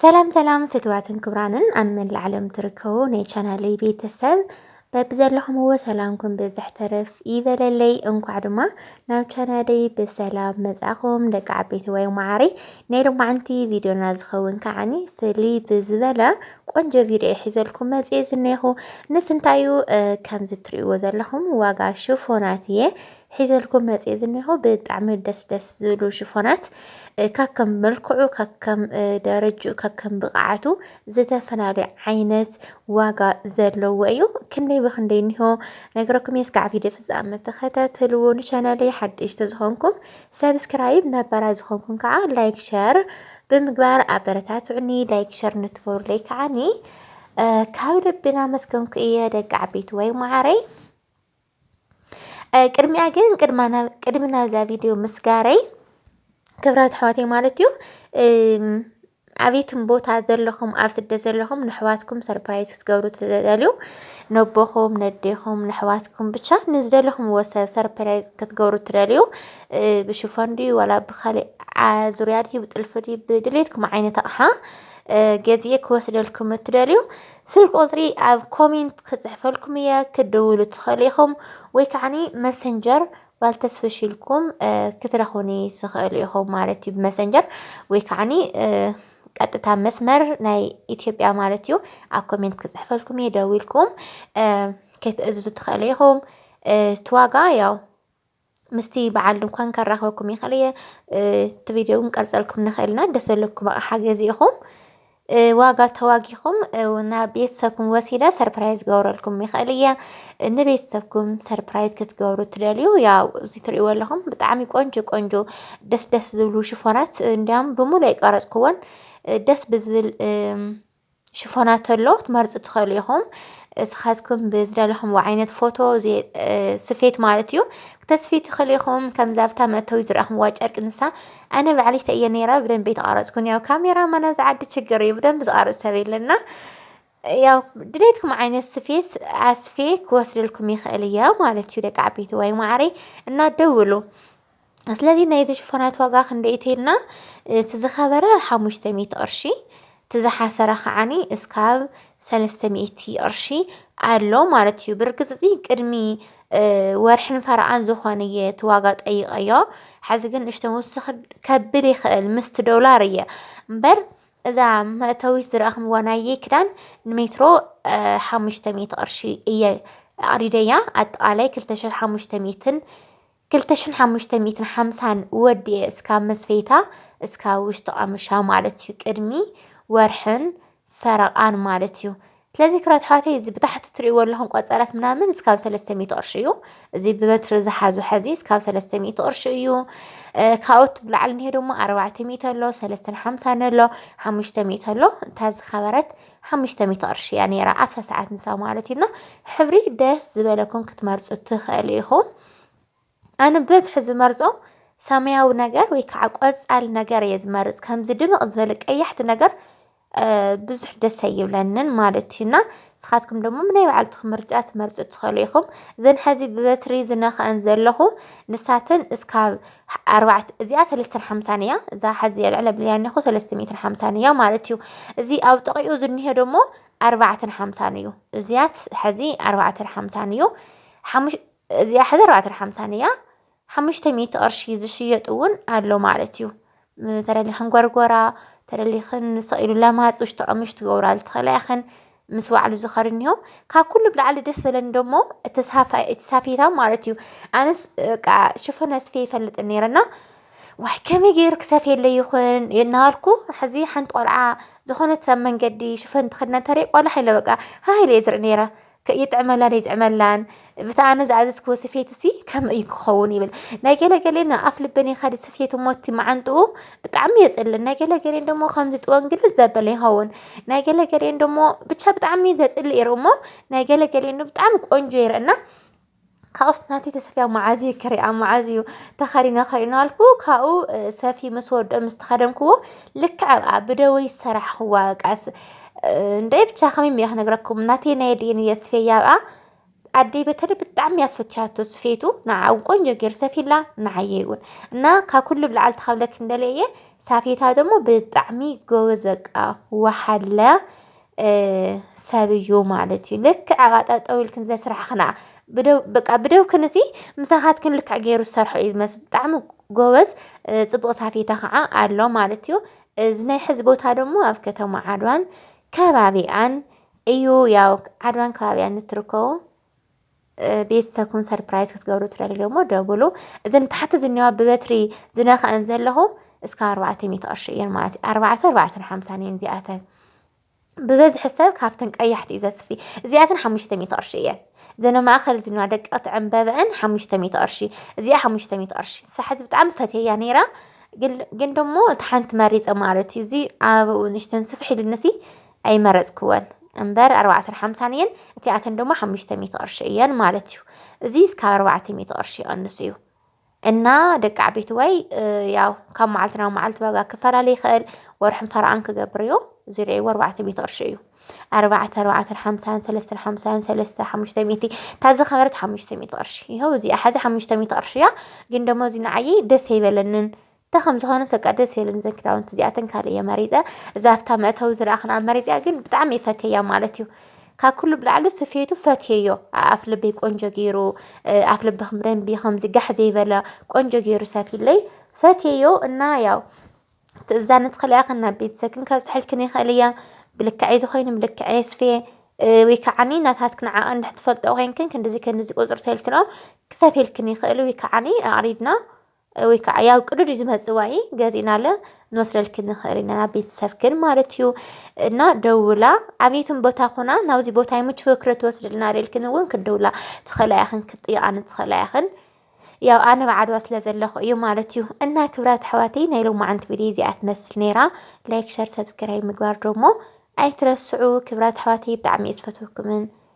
ሰላም ሰላም ፍትዋትን ክብራንን ኣብ መላእ ዓለም ትርከቡ ናይ ቻናለይ ቤተሰብ በብዘለኹምዎ ሰላምኩም ብዝሕ ተረፍ ይበለለይ። እንኳዕ ድማ ናብ ቻናለይ ብሰላም መጻእኹም ደቂ ዓበይቲ ወይ መዓሪ ናይ ልማዕንቲ ቪድዮና ዝኸውን ከዓኒ ፍልይ ብዝበለ ቆንጆ ቪድዮ ይሒዘልኩም መጽኤ ዝኔኹ ንስ እንታይ እዩ ከምዚ ትርእይዎ ዘለኹም ዋጋ ሽፎናት እየ ሒዘልኩም መፅየ ዝኒሆ ብጣዕሚ ደስ ደስ ዝብሉ ሽፎናት ካከም መልክዑ ካከም ደረጅኡ ካከም ብቕዓቱ ዝተፈላለየ ዓይነት ዋጋ ዘለዎ እዩ ክንደይ ብክንደይ እኒሆ ነገረኩም እየ እስካዕ ቪድዮ ፍፃመ ተኸታተልዎ ንቻናለይ ሓደሽቲ ዝኾንኩም ሰብስክራይብ ነባራ ዝኾንኩም ከዓ ላይክ ሸር ብምግባር ኣበረታትዑኒ ላይክ ሸር ንትገብሩለይ ከዓኒ ካብ ልብና መስገንኩ እየ ደቂ ዓበይቲ ወይ ማዓረይ ቅድሚያ ግን ቅድሚ ናብዛ ቪድዮ ምስጋረይ ክብራት ኣሕዋተይ ማለት እዩ ኣብትም ቦታ ዘለኹም ኣብ ስደት ዘለኹም ንሕዋትኩም ሰርፕራይዝ ክትገብሩ ትደልዩ ነቦኹም ነዴኹም ንሕዋትኩም ብቻ ንዝደለኹም ወሰብ ሰርፕራይዝ ክትገብሩ ትደልዩ ብሽፎን ድዩ ዋላ ብካሊእ ዙርያ ድዩ ብጥልፊ ድዩ ብድሌትኩም ዓይነት ኣቕሓ ገዚኤ ክወስደልኩም እትደልዩ ስልኪ ቁጽሪ ኣብ ኮሜንት ክጽሕፈልኩም እየ ክትድውሉ ትኽእሉ ኢኹም ወይ ከዓኒ መሰንጀር ባል ተስፍሽ ኢልኩም ክትረኽቡኒ ትኽእሉ ኢኹም ማለት እዩ ብመሰንጀር ወይ ከዓኒ ቀጥታ መስመር ናይ ኢትዮጵያ ማለት እዩ ኣብ ኮሜንት ክጽሕፈልኩም እየ ደዊልኩም ክትእዝዙ ትኽእሉ ኢኹም እቲ ዋጋ ያው ምስቲ በዓል ድንኳን ከራኸብኩም ይኽእል እየ እቲ ቪድዮ እውን ቀርፀልኩም ንኽእልና ደስ ዘለኩም ኣቕሓ ገዚእኹም ዋጋ ተዋጊኹም ናብ ቤተሰብኩም ወሲደ ሰርፕራይዝ ገብረልኩም ይኽእል እየ ንቤተሰብኩም ሰርፕራይዝ ክትገብሩ ትደልዩ ያው እዚ ትሪእዎ ኣለኹም ብጣዕሚ ቆንጆ ቆንጆ ደስ ደስ ዝብሉ ሽፎናት እንዲያውም ብሙሉ የቀረፅኩዎን ደስ ብዝብል ሽፎናት ተሎ ትመርጹ ትኸእሉ ኢኹም እስኻትኩም ብዝደለኹምዎ ዓይነት ፎቶ ስፌት ማለት እዩ ክተስፊ ትኽእሉ ኢኹም ከምዛ ኣብታ መእተዊ ዝረእኹምዋ ጨርቂ ንሳ ኣነ ባዕሊ ተእየ ነይራ ብደንቢ ተቓረጽኩን ያው ካሜራ ማና ዝዓዲ ችግር እዩ ብደንቢ ዝቓረጽ ሰብ የለና ያው ድሌትኩም ዓይነት ስፌት ኣስፌ ክወስድልኩም ይኽእል እያ ማለት እዩ ደቂ ዓበይቲ ወይ ማዕረይ እና ደውሉ ስለዚ ናይዚ ሽፎናት ዋጋ ክንደይ ተይልና እቲ ዝኸበረ ሓሙሽተ ሚእቲ ቅርሺ እቲ ዝሓሰረ ከዓኒ እስካብ ሰለስተ ሚእቲ ቅርሺ ኣሎ ማለት እዩ ብርግፅ እዚ ቅድሚ ወርሕን ፈረቓን ዝኾነ እየ እቲ ዋጋ ጠይቐዮ ሓዚ ግን ንእሽቶ ምውስኽ ከብል ይኽእል ምስቲ ዶላር እየ እምበር እዛ መእተዊት ዝረኣኽምዋ ናየ ክዳን ንሜትሮ ሓሙሽተ ሚእቲ ቅርሺ እየ ኣቕዲደያ ኣጠቓላይ ክልተ ሽሕ ሓሙሽተ ሚእትን ክልተ ሽሕን ሓሙሽተ ሚእትን ሓምሳን ወዲኤ እስካብ መስፈይታ እስካብ ውሽጢ ቃምሻ ማለት እዩ ቅድሚ ወርሕን ፈረቃን ማለት እዩ ስለዚ ክራት ሓወተይ እዚ ብታሕቲ ትሪእዎ ኣለኹም ቆፀረት ምናምን እስካብ ሰለስተ ሚእቲ ቅርሺ እዩ እዚ ብበትሪ ዝሓዙ ሐዚ እስካብ ሰለስተ ሚእቲ ቅርሺ እዩ ካብኡት ብላዕሊ እኒሄ ድማ ኣርባዕተ ሚእቲ ኣሎ ሰለስተን ሓምሳን ኣሎ ሓሙሽተ ሚእቲ ኣሎ እታ ዝኸበረት ሓሙሽተ ሚእቲ ቅርሺ እያ ነይራ ኣብታ ሰዓት ንሳ ማለት እዩና ሕብሪ ደስ ዝበለኩም ክትመርፁ ትኽእሉ ኢኹም ኣነ ብበዝሒ ዝመርጾ ሰማያዊ ነገር ወይ ከዓ ቆፃል ነገር እየ ዝመርፅ ከምዚ ድምቕ ዝበለ ቀያሕቲ ነገር ብዙሕ ደስ ኣይብለንን ማለት እዩ እና ንስኻትኩም ደሞ ናይ ባዕልትኹም ምርጫ ትመርፁ ትኽእሉ ኢኹም እዘን ሐዚ ብበትሪ ዝነኽዐን ዘለኹ ንሳተን እስካብ ኣርባዕተ እዚኣ ሰለስተን ሓምሳን እያ እዛ ሐዚ የልዕለ ብልያ እኒኹ ሰለስተ ሚእትን ሓምሳን እያ ማለት እዩ እዚ ኣብ ጥቂኡ ዝኒሀ ደሞ ኣርባዕተን ሓምሳን እዩ እዚያት ሐዚ ኣርባዕተን ሓምሳን እዩ ሓሙሽ እዚኣ ሕዚ ኣርባዕተን ሓምሳን እያ ሓሙሽተ ሚእቲ ቅርሺ ዝሽየጥ እውን ኣሎ ማለት እዩ ተደሊኽን ጎርጎራ ተደሊኽን ንስቕ ኢሉ ለማፅ ውሽጢ ቀምሽ ትገብራሉ ትኽእላ ኢኽን ምስ ባዕሉ ዝኸሪ እኒሆ ካብ ኩሉ ብላዕሊ ደስ ዘለኒ ደሞ እቲ ሳፋ- እቲ ሳፌታ ማለት እዩ ኣነስ በቃ ሽፈን ኣስፌ ይፈልጥን ነይረና ዋይ ከመይ ገይሩ ክሰፍየለ ይኹን እናበልኩ ሕዚ ሓንቲ ቆልዓ ዝኾነት ኣብ መንገዲ ሽፈን ትኸድና እንተሪኢ ቆላሕ ኢለ በቃ ሃህ ኢለ እየ ዝርኢ ነይረ ይጥዕመላ ደይጥዕመላን ብቲ ኣነ ዝኣዘዝክዎ ስፌትሲ ከምኡ እዩ ክኸውን ይብል ናይ ገለገሌ ንኣፍ ልበን የኻዲ ስፌት ሞቲ መዓንጥኡ ብጣዕሚ የፅልን ናይ ገለገሌን ደሞ ከምዚ ጥወንግልን ዘበለ ይኸውን ናይ ገለገሌን ደሞ ብቻ ብጣዕሚ ዘፅልእ ይርእ እሞ ናይ ገለገሌን ብጣዕሚ ቆንጆ ይርእና ካብኡስ ናተይ ተሰፊያ መዓዝ እዩ ክሪኣ መዓዝ እዩ ተኸዲነ ክርኢ እናበልኩ ካብኡ ሰፊ ምስ ወድኦ ምስ ተኸደንክዎ ልክዕ ኣብኣ ብደወይ ሰራሕኽዋ ቃስ እንደ ብቻ ከመይ እየ ክነግረኩም ናተይ ናይ ድኤን እየ ስፌያ ኣብኣ ኣደይ በተለይ ብጣዕሚ እያ ዝፈትሻቶ ስፌቱ ንዓ እውን ቆንጆ ገይር ሰፊላ ንዓየ እውን እና ካብ ኩሉ ብላዕሊ ተካብለክ እንደለ እየ ሳፌታ ደግሞ ብጣዕሚ ጎበዝ በቃ ወሓለ ሰብ እዩ ማለት እዩ ልክዕ ኣብኣ ጠጠው ኢልክን ዘስራሕኽና በቃ ብደውክን እዚ ምሳኻትክን ልክዕ ገይሩ ዝሰርሖ እዩ ዝመስል ብጣዕሚ ጎበዝ ፅቡቕ ሳፌታ ከዓ ኣሎ ማለት እዩ እዚ ናይ ሕዚ ቦታ ደግሞ ኣብ ከተማ ዓድዋን ከባቢኣን እዩ ያው ዓድዋን ከባቢኣን እትርከቦ ቤተሰብኩም ሰርፕራይዝ ክትገብሩ ትደልዩ እሞ ደውሉ። እዘን ታሕቲ ዝኒዋ ብበትሪ ዝነክዐን ዘለኹ እስከ ኣርባዕተ ሚእቲ ቅርሺ እየን ማለት እዩ ኣርባዕተ ኣርባዕተን ሓምሳን እየን እዚኣተን ብበዝሒ ሰብ ካብተን ቀያሕቲ እዩ ዘስፊ እዚኣተን ሓሙሽተ ሚእቲ ቅርሺ እየን ዘነ ማእኸል ዝኒዋ ደቀቕቲ ዕምበበአን ሓሙሽተ ሚእቲ ቅርሺ እዚኣ ሓሙሽተ ሚእቲ ቅርሺ ሳሕዚ ብጣዕሚ ፈትየያ ነይራ ግን ግን ደሞ እቲ ሓንቲ መሪፀ ማለት እዩ እዚ ኣበኡ ንሽተን ስፍሕ ኢልንሲ ኣይመረጽክወን እምበር ኣርባዕተን ሓምሳን እየን እቲኣተን ድማ ሓሙሽተ ሚእቲ ቅርሺ እየን ማለት እዩ እዚ እስካብ ኣርባዕተ ሚእቲ ቅርሺ ይቐንስ እዩ እና ደቂ ዓበይቲ ወይ ያው ካብ መዓልቲ ናብ መዓልቲ ዋጋ ክፈላለ ይኽእል ወርሕን ፈርኣን ክገብር እዩ ዝርአይዎ ኣርባዕተ ሚእቲ ቅርሺ እዩ ኣርባዕተ ኣርባዕተን ሓምሳን ሰለስተን ሓምሳን ሰለስተ ሓሙሽተ ሚእቲ እታ ዝኸበረት ሓሙሽተ ሚእቲ ቅርሺ ይኸው እዚኣ ሓዚ ሓሙሽተ ሚእቲ ቅርሺ እያ ግን ደሞ እዚ ንዓየይ ደስ ኣይበለንን እንታይ ከም ዝኾነስ በቃ ደስ የብለንን እዘን ክዳውንቲ እዚኣተን ካልእ እየ መሪፀ እዛ ኣብታ መእተዊ ዝረኣኽንኣ መሪፀያ ግን ብጣዕሚ እየ ፈትየያ ማለት እዩ ካብ ኩሉ ብላዕሊ ስፌቱ ፈትየዮ ኣፍ ልበይ ቆንጆ ገይሩ ኣፍ ልብኽም ደንቢ ከምዚ ጋሕ ዘይበለ ቆንጆ ገይሩ ሰፊለይ ፈትየዮ እና ያው ትእዛኒ ትኽእሊ እያ ናብ ቤተሰብክን ከብፅሐልክን ይኽእል እያ ብልክዐይ ዝኾይኑ ብልክዐይ የስፍየ ወይ ከዓኒ ናታትክን ዓቐን እንድሕር ትፈልጦ ኮይንክን ክንድዚ ክንድዚ ቁፅሪ ተልክንኦም ክሰፍየልክን ይኽእል ወይ ከዓኒ ኣቕሪብና ወይ ከዓ ያው ቅዱድ ዝመፅዋኢ ገዚእናለ ንወስደልኪ ንኽእል ኢና ናብ ቤተሰብክን ማለት እዩ እና ደውላ ዓብይትን ቦታ ኩና ናብዚ ቦታ ይምችወ ክረ ትወስድልና ደልክን እውን ክደውላ ትኽእላ ኢኽን ክትጥይቃን ትኽእላ ኢኽን ያው ኣነ ብዓድዋ ስለ ዘለኹ እዩ ማለት እዩ እና ክብራት ኣሕዋተይ ናይ ሎማዓንቲ ቪድዮ እዚኣ ትመስል ነይራ ላይክ ሸር ሰብስክራይብ ምግባር ደሞ ኣይትረስዑ ክብራት ኣሕዋተይ ብጣዕሚ እየ ዝፈትወኩምን